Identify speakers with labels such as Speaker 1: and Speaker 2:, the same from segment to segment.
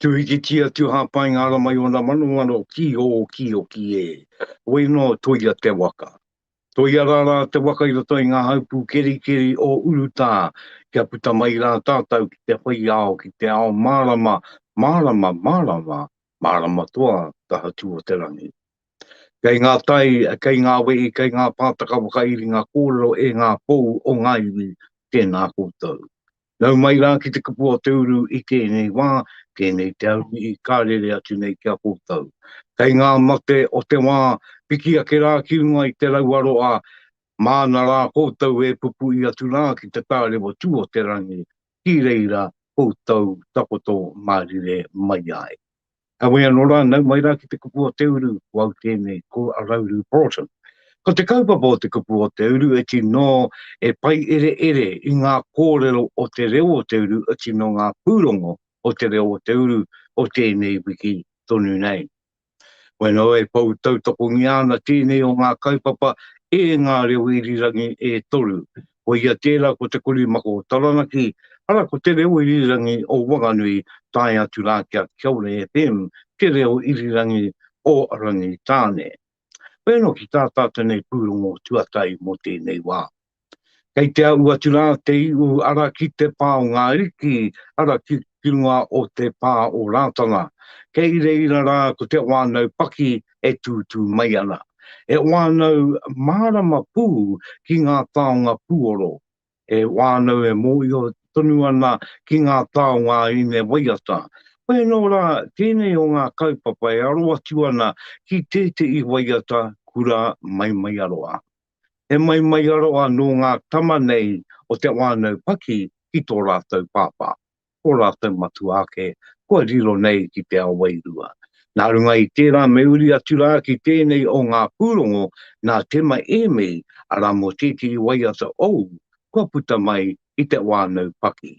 Speaker 1: Tuhikitia tu hapai nga ara mai ona manomano ki o ki o ki e. Wei no toia te waka. Toia ra ra te waka i roto i nga haupu keri keri o Urutā kia puta mai ra tatou ki te whai ao ki te ao marama marama marama marama toa taha tu o te rangi. Kei nga tai, kei nga wehi, kei nga pātaka whakairinga korero e nga pou o nga iwi, tena koutou. Nau mai rā ki te kapua o te uru i tēnei wā, tēnei te arumihi ka rere atu nei ki a koutou. Kei ngā mate o te wā, piki ake rā ki runga i te raua roa, māna rā koutou e pupui atu rā ki te tārewa tū o te rangi, ki reira koutou takoto mārire mai ai. Kawe anō rā, nau mai rā ki te kupu o te uru, ko au tēnei, ko Rauru Broughton. Ko te kaupapa o te kupu o te uru e tino e paiereere i ngā kōrero o te reo o te uru, e tino ngā pūrongo o te reo o te uru o tēnei wiki tonu nei. Bueno e pou tautokongia ana tēnei o ngā kaupapa e ngā reo irirangi e toru, Ko ia tērā ko Te Korimako o Taranaki, arā ko Te Reo Irirangi o Wanganui tae atu rā ki a Kia Ora FM, Te Reo Irirangi o Rangitāne. Hoi anō ki tā tā tenei pūrongo tuatahi mō tēnei wā. Kei te aʻu atu rā te iʻu ara ki te pā o ngā riki, ara ki. ki runga o te pā o Rātana, kei reira rā ko te whānau paki e tūtū mai ana. He whānau mārama pū ki ngā taonga pūoro, he whānau e mōhio tonu ana ki ngā taonga ine waiata. Koia nō rā tēnei o ngā kaupapa e aro atu ana ki tētehi waiata kura Maimaiaroa. He mai maiaro anō ngā tama nei o te whānau Paki ki tō rātou pāpā, ō rātou matua ake, kua riro nei ki te ao wairua. Nā runga i tērā me uri atu rā ki tēnei o ngā pūrongo nā Tema Ēmei, arā mō tētehi waiata ou kua puta mai i te whānau Paki.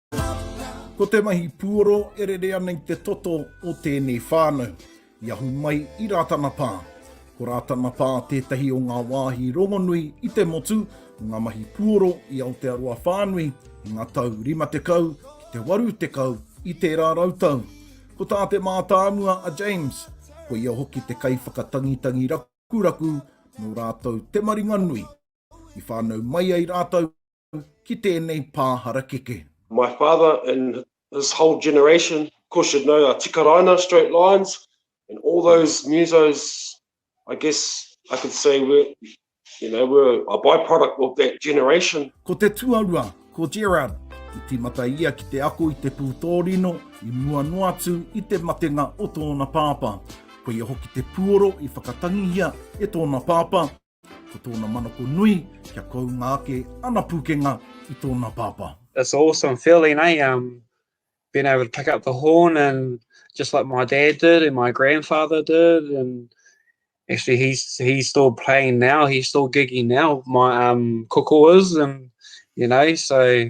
Speaker 2: Ko te mahi puoro e rere ana i te toto o tēnei whānau. I ahu mai i Rātana Pā. Ko Rātana Pā tētahi o ngā wāhi rongonui i te motu o ngā mahi puoro i Aotearoa whānui i ngā tau 50 ki te 80 i tērā rautau. Ko tā te mātāmua a James, ko ia hoki te kaiwhakatangitangi rakuraku nō rātou te maringanui. I whānau mai ai rātou ki tēnei pā harakeke. My father
Speaker 3: and his whole generation of course should know a tikaraina, straight lines, and all those musos I guess I could say were, you know, were a by-product of that generation. Ko te tuarua,
Speaker 2: ko Gerard, i tīmata ia ki te ako i te pūtōrino i mua noa atu i te matenga o tōna pāpā. Koia hoki te puoro i whakatangihia e tōna pāpā, Ko tōna manako nui, kia kounga ake ana pūkenga i tōna pāpā. It's an awesome
Speaker 4: feeling, eh? Um, being able to pick up the horn and just like my dad did and my grandfather did and actually he's he's still playing now he's still gigging now my um koko is and you know so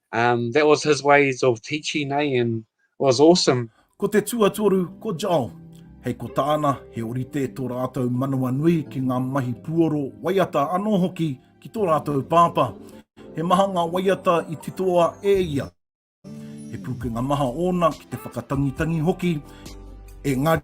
Speaker 4: Um, that was his ways of teaching, eh?
Speaker 2: And it was
Speaker 4: awesome.
Speaker 2: Ko
Speaker 4: te tuatoru,
Speaker 2: ko
Speaker 4: Joel. Hei ko
Speaker 2: tāna, he orite tō rātou manawa nui ki ngā mahi puoro, waiata anō hoki ki tō rātou pāpā. He maha ngā waiata i titoa e ia. He pūkenga maha ōna ki te whakatangitangi hoki, engari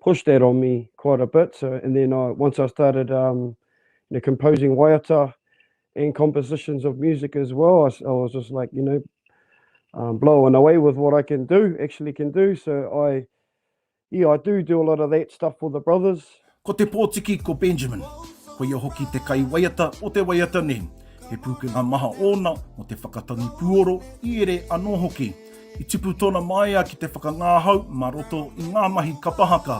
Speaker 5: pushed that on me quite a bit so and then I once I started um you know composing waiata and compositions of music as well I, I was just like you know um, blowing away with what I can do, actually can do. So I, yeah, I do do a lot of that stuff for the brothers. Ko te pōtiki
Speaker 2: ko Benjamin. Ko ia hoki te kai waiata o te waiata nei. He pūkenga maha ōna o te whakatangi pūoro i ere anō hoki. I tipu tōna māia ki te whakangāhau mā roto i ngā mahi kapa haka.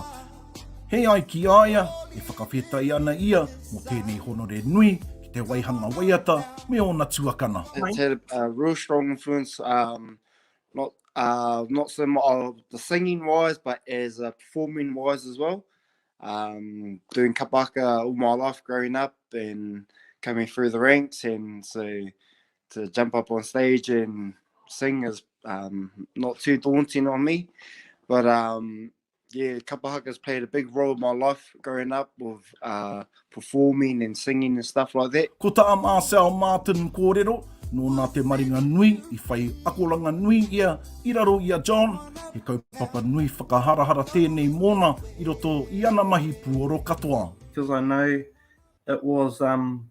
Speaker 2: He ai ki a ia, e whakawhetai ana ia mō tēnei honore nui ki te waihanga waiata me ōna tuakana. It's had a
Speaker 6: real strong influence, um, not, uh, not so much of the singing wise, but as a performing wise as well. Um, doing kapa haka all my life growing up and coming through the ranks and so to jump up on stage and sing is um, not too daunting on me. But um, yeah, Kapa Haka's played a big role in my life growing up with uh, performing and singing and stuff like that. Ko tā Marcel
Speaker 2: Martin kōrero, nōna te maringa nui i whai akoranga nui ia i raro i a John, he kaupapa nui whakaharahara tēnei mōna i roto i ana mahi puoro katoa. Because I know
Speaker 7: it was um,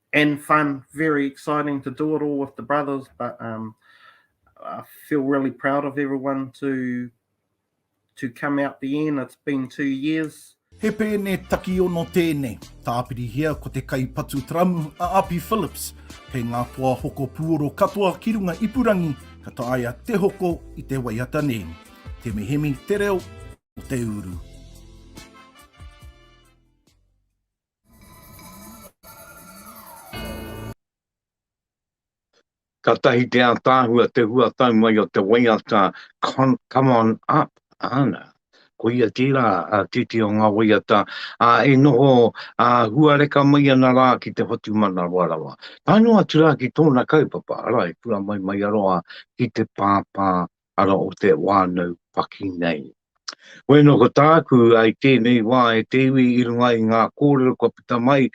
Speaker 7: and fun, very exciting to do it all with the brothers. But um, I feel really proud of everyone to to come out the end. It's been two years. He pēne
Speaker 2: takiono tēnei. Tāpirihia ko te kaipatu taramu a Api Phillips. Kei ngā toa hoko pūoro katoa ki runga ipurangi ka taia te hoko i te waiata nei. Te mihemi te reo o te uru.
Speaker 1: Katahi te ataahua te huatau mai o te waiata Come on up ana. Koia tera a titi o nga waiata a e noho a huareka mai ana ra ki te whatumanawa rawa. Tae noa atu ra ki tona kaupapa, ara e pura mai mai aroa ki te papa ara o te whānau paki nei. Koe no ko tāku ai tēnei wā e te iwi i runga i ngā kōrero kua puta mai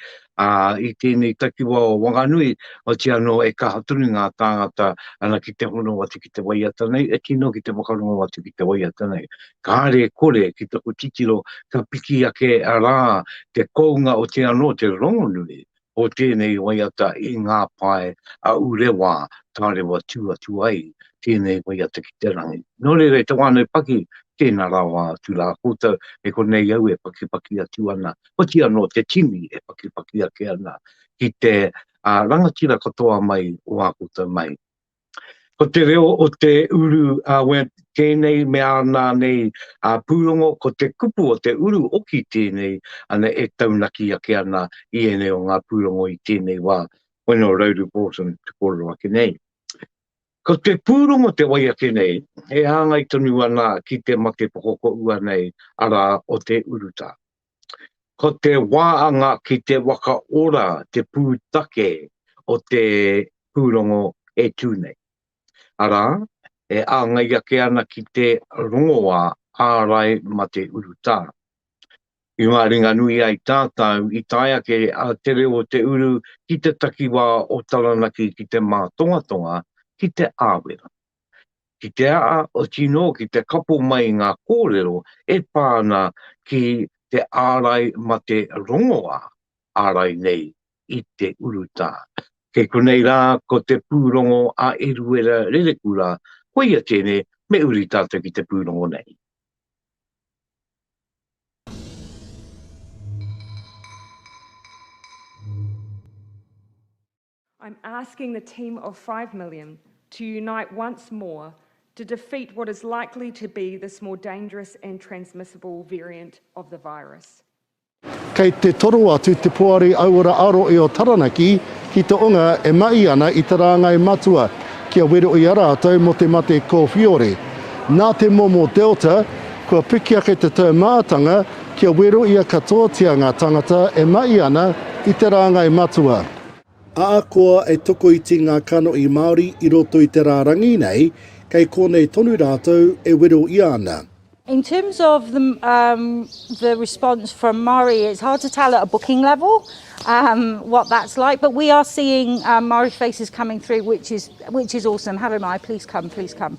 Speaker 1: a, i tēnei takiwa o Wanganui, oti anō e kaha tonu ngā tāngata ana ki te hono atu ki te waiata nei, e tino ki te whakarongo atu ki te waiata nei. Kāre e kore ki taku titiro ka piki ake rā te kounga oti anō te rongonui o tēnei waiata i ngā pae a Urewā tārewa tū atu ai tēnei waiata ki te rangi. Nō reira e te wānau paki, tēnā rawa atu rā koutou, e konei au e pakipaki atu ana, oti anō te tini e pakipaki ake ana ki te rangatira katoa mai o ā koutou mahi. Ko te reo o te uru a Webb tēnei me āna nei a pūrongo ko te kupu o te uru oki tēnei ana e taunaki ake ana i ēnei o ngā pūrongo i tēnei wā, when or road of autumn te kōrero ake nei. Ko te pūrongo te wai ake nei e hāngai tonu ana ki te mate pokokoua nei, arā, o te urutā. Ko te waanga ki te waka ora te pūtake o te pūrongo e tū nei. Arā, e āngai ake ana ki te rongoā ārai mate urutā. I ngā ringa nui ai tātau i tae ake a Te Reo o Te Uru ki te takiwā o Taranaki ki te mātongatonga ki Te Āwera. ki te āti noa ki te kapo mai i ngā kōrero e pā ana ki te ārai mate rongoā, ārai nei i te urutā. Kei konei rā ko te pūrongo a Eruera Rerekura, koia tēnei me uri tātou ki te pūrongo nei.
Speaker 8: I'm asking the team of five million to unite once more to defeat what is likely to be this more dangerous and transmissible variant of the virus. Kei
Speaker 9: te toro atu te Poari Auora Aro i o Taranaki ki te onga e mahi ana i te rāngai matua kia wero i a rātou mo te mate kōwhiore. Nā te momo Delta, kua piki ake te taumātanga kia wero ia katoatia ngā tangata e mahi ana i te rāngai matua. Ahakoa e tokoiti ngā kanohi Māori i roto i te rārangi nei, kei konei tonu rātou e wero i ana. In terms
Speaker 10: of the um, the response from Māori, it's hard to tell at a booking level um, what that's like, but we are seeing um, Māori faces coming through, which is, which is awesome. Hello Māori, please come, please come.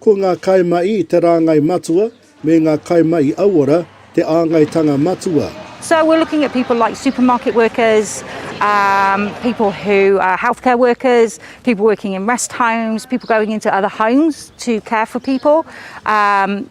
Speaker 11: Ko ngā kaimahi
Speaker 9: i te rāngai matua, me ngā kaimahi auora te āngaitanga matua. So we're looking at
Speaker 10: people like supermarket workers, um, people who are healthcare workers, people working in rest homes, people going into other homes to care for people, um,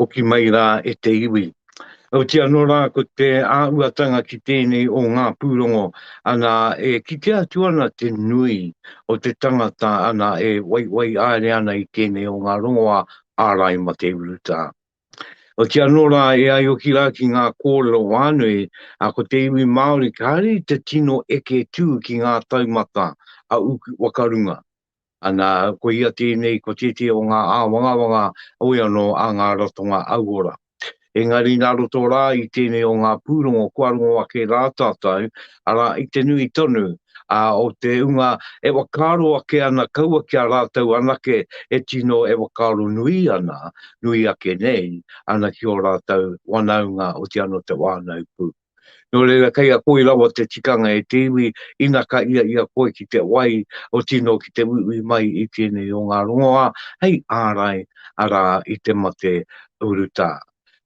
Speaker 1: Hoki mai rā e te iwi. Auti anō rā ko te āhuatanga ki tēnei o ngā pūrongo, ana, e kite atu ana te nui o te tangata, ana, e waiwai aere ana i tēnei o ngā rongoā ārai ma te urutā. Oti anō rā e aioki rā ki ngā kōrero whānui, a ko te iwi Māori kāre i te tino eke tū ki ngā taumata a Uku Wakarunga, Ana, ko ia tēnei ko tētehi o ngā āwangawanga hoi anō a ngā ratonga auora. Engari nā roto rā i tēnei o ngā pūrongo kua rongo ake rā tātou, arā, i te nui tonu ā, o te hunga e whakaaro ake ana kaua ki a rātou anake e tino e whakaaro nui ana, nui ake nei, ana ki ō rātou wanaunga otiano te whānau pū. Nō reira, kei a koe rawa te tikanga e te iwi, ina ka ia i a koe ki te wai, o tino ki te uiui mai i tēnei o ngā rongoā, hei ārai, arā, i te mate urutā.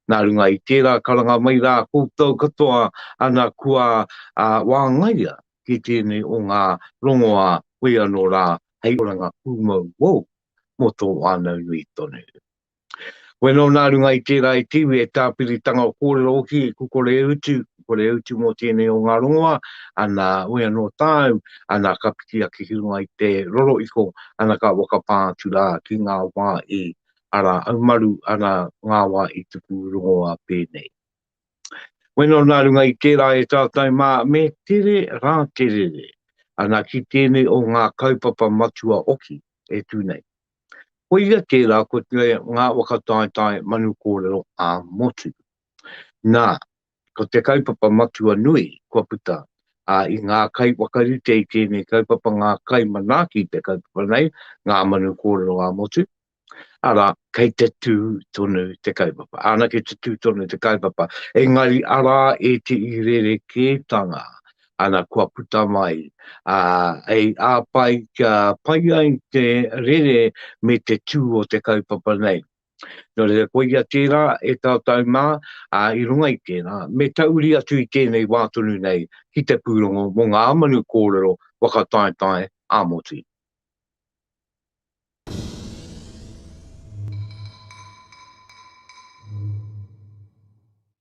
Speaker 1: Nā runga i tērā, karanga mai rā koutou katoa, ana kua wāngaia ki tēnei o ngā rongoā, whoi anō rā, hei oranga pūmau wou mō tō whānau nui tonu. Koe anō nā runga i tērā e te iwi, e tāpiritanga o kōrero hoki, e kukore e utu, kukore e utu mō tēnei o ngā rongoa, ana, oe anō tāu, ana, ka piki ake ki runga i te roro iko, ana, ka whakapā atu rā ki ngā wā i ara aumaru, ana, ngā wā i tuku rongoā pēnei. Koe anō nā runga i tērā e tātou mā, me tere rā te rere, ana, ki tēnei o ngā kaupapa matua hoki e tū nei. Koia tērā ko te ngā whakataetae manu kōrero ā-motu. Nā, ko te kaupapa matua nui kua puta, ā, i ngā kai whakarite i tēnei kaupapa ngā kai manaaki i te kaupapa nei, ngā manu kōrero ā-motu, arā, kei te tū tonu te kaupapa. Anake te tū tonu te kaupapa, engari arā e te i rerekētanga Ana kua puta mai, ā, e āpai kia pai ai te rere me te tū o te kaupapa nei. Nō reira, koia tērā e taotau mā, ā, i runga i tērā, me tauri atu i tēnei wā tonu nei ki te pūrongo mō ngā manu kōrero whakataetae ā-motu.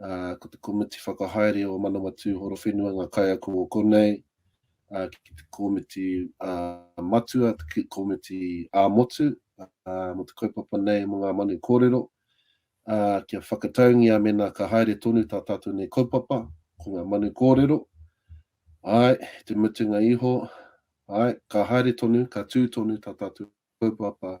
Speaker 12: ā, ko te komiti whakahaere o Manawatū Horowhenua ngā kaiako o konei, ā, ki te komiti, ā, matua, te komiti ā-motu, ā, mō te kaupapa nei mō ngā manu kōrero, ā, kia whakataungia mēnā ka haere tonu tā tātou nei kaupapa, ko ngā manu kōrero, āe, i te mutunga iho, āe, ka haere tonu, ka tū tonu tā tātou kaupapa.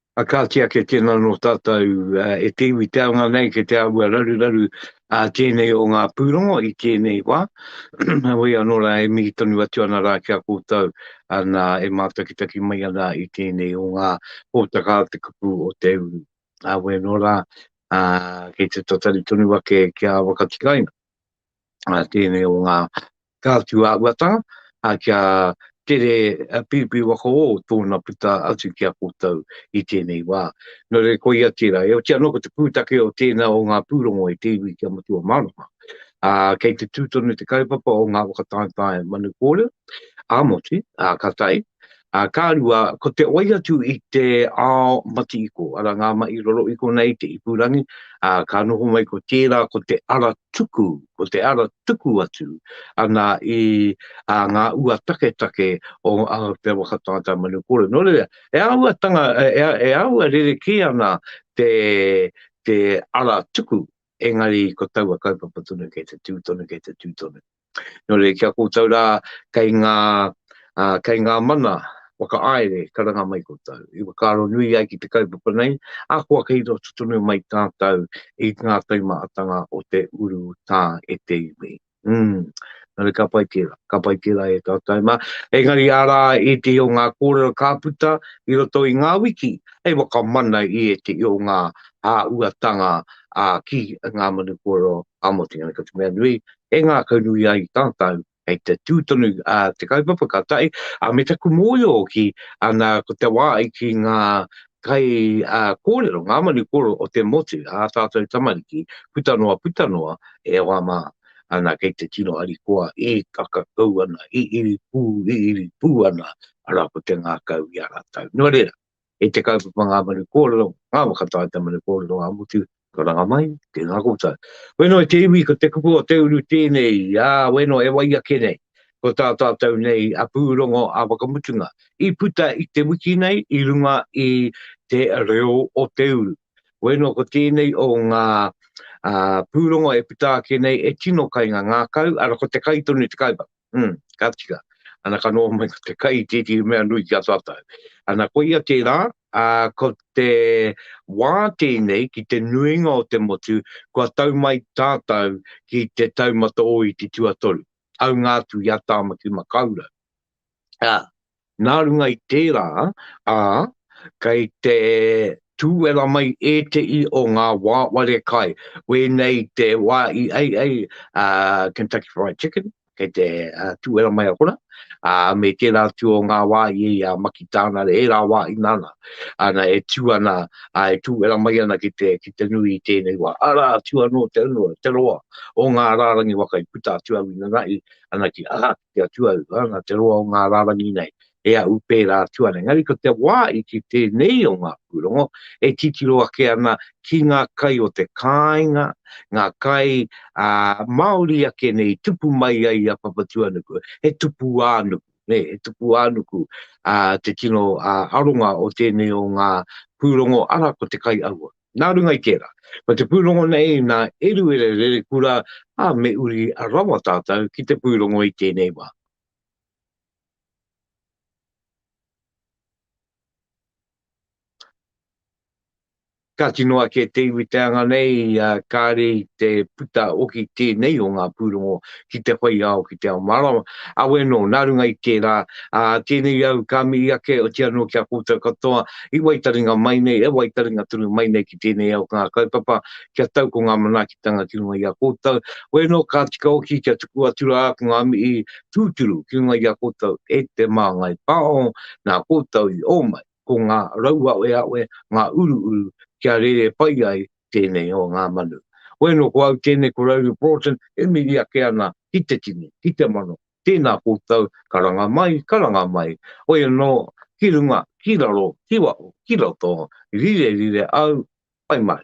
Speaker 1: A kāti ake tēnā nō tātou e te iwi te anga nei ke te āhua raruraru a tēnei o ngā pūrongo i tēnei wā. Heoi anō rā, e mihi tonu atu ana rā ki a koutou nā e mātakitaki mai ana i tēnei o ngā hōtaka a te kupu o te uru. Heoi anō rā, kei te tatari tonu ake ki a Wakatikaina, tēnei o ngā Ka atu a Uata, ā, kia tere piripi waka ō tōna puta atu ki a koutou i tēnei wā. Nō reira, koia tērā. E oti anō ko te pūtake o tēnā o ngā pūrongo i te iwi ki a Matua Mārama, ā, kei te tū tonu te kaupapa o ngā whakataetae manu kōrero ā-motu, ā, ka tae, Ā, ka rua, ko te wai atu i te ao matihiko, arā, ngā mahi rorohiko nei, te ipurangi, ā, ka noho mai ko tērā ko te ara tuku, ko te ara tuku atu ana i ā, ngā ua taketake o Aotearoa ka tātai manu kore. Nō reira, e āhua tanga, e, e āhua rerekē ana te, te ara tuku, engari ko taua kaupapa tonu kei te tū tonu, kei te tū tonu. Nō reira, ki a koutou rā, kei ngā, uh, kei ngā mana whakaaere, karanga mai koutou. I whakaaro nui ai ki te kaupapa nei, a kua kei roto tonu mai tātou i ngā taimaatanga o te uru tā e te iwi. Mm. Nō reira, ka pai tērā, ka pai tērā e tātou mā. Engari arā e te o ngā kōrero ka puta i roto i ngā wiki, hei wakamana i e te o ngā hāuatanga a ki ngā manu kōrero a Motu Ngāi Kati Mea Nui, e ngākaunui ai tātou kei te tū tonu te kaupapa ka tae, ā, me taku mōhio hoki, nā, ko te wā i kī ngā kai kōrero, ngā manu kōrero o te motu, ā tātou tamariki, puta noa, puta noa, e hoa mā, nā, kei te tino harikoa e kakakau ana, e iri pū, e iri pū ana, arā, ko te ngākau i a rātou. Nō reira. E te kaupapa ngā manu kōrero, ngā waka tae te manu kōrero ngā motu, ka ranga mai, tēnā koutou. Weno i te iwi ko te kupu o te uru tēnei, ā, weno e wai ake nei, ko tā tātou nei a pūrongo a whakamutunga i puta i te wiki nei i runga i te reo o te uru. Weno ko tēnei o ngā pūrongo e puta ake nei e tino kainga ngākau, ara ko te kai tonu te kaupapa. Mm, ka tika. Ana ka noho mai ko te kai i tētehi mea nui ki a tātou. Ana koia tērā, a, ko te wā tēnei ki te nuinga o te motu, kua tau mai tātou ki te taumata o i te tuatoru, aunga atu i a Tāmaki Makaurau. A, Nā runga i tērā, ā, kei te tūwera mai ētehi o ngā wāware kai, wēnei te wā i ai ai a Kentucky Fried Chicken, kei te tūwera mai a Hora, ā, me tērā atu o ngā wā i ai a Maki Tānare, ērā wā i nana ana e tū ana, ā, e tūwera mai ana ki te, ki te nui i tēnei wā. Arā atu anō te unuo, te roa o ngā rārangi waka i puta atu au ina rahi ana ki Ahau. te atua au, ā, nā te roa o ngā rārangi nei, e ahu pērā atu ana. Engari ko te wā i kī tēnei o ngā pūrongo e titiro ake ana ki ngā kai o te kāinga, ngā kai, ā, māori ake nei i tupu mai ai a Papatūānuku, he tupu ā-nuku, nē, he tupu ā-nuku, ā, te tino, ā, aronga o tēnei o ngā pūrongo, arā, ko te kai aua. Nā runga i tērā, ko te pūrongo nei nā Eruere Rerekura, ā, me uri rawa tātou ki te pūrongo i tēnei wā. Kāti noa kē te iwi teanga nei, kāre i te puta hoki tēnei o ngā pūrongo ki te whai ao, ki te ao mārama. Awe anō, nā runga i tērā, ā, tēnei au ka mihi ake, otiia anō ki a koutou katoa, i waitaringa mai nei, e waitaringa tonu mai nei ki tēnei ao ngā kaupapa, kia tau ko ngā manaakitanga ki runga i a koutou. Koe anō ka tika hoki kia tuku atu rā ko ngā mihi tūturu ki runga i a koutou e te Māngai Pāho, nā koutou i ō mai, ko ngā rauaweawe, ngā uruuru kia rere pai ai tēnei o ngā manu. Koe nō ko au tēnei ko Rowley Broughton e miri ake ana ki te tini, ki te mano, tēnā koutou, karanga mai, karanga mai, hoi anō, ki runga, ki raro, ki waho, ki roto, rire rire au, pai mai.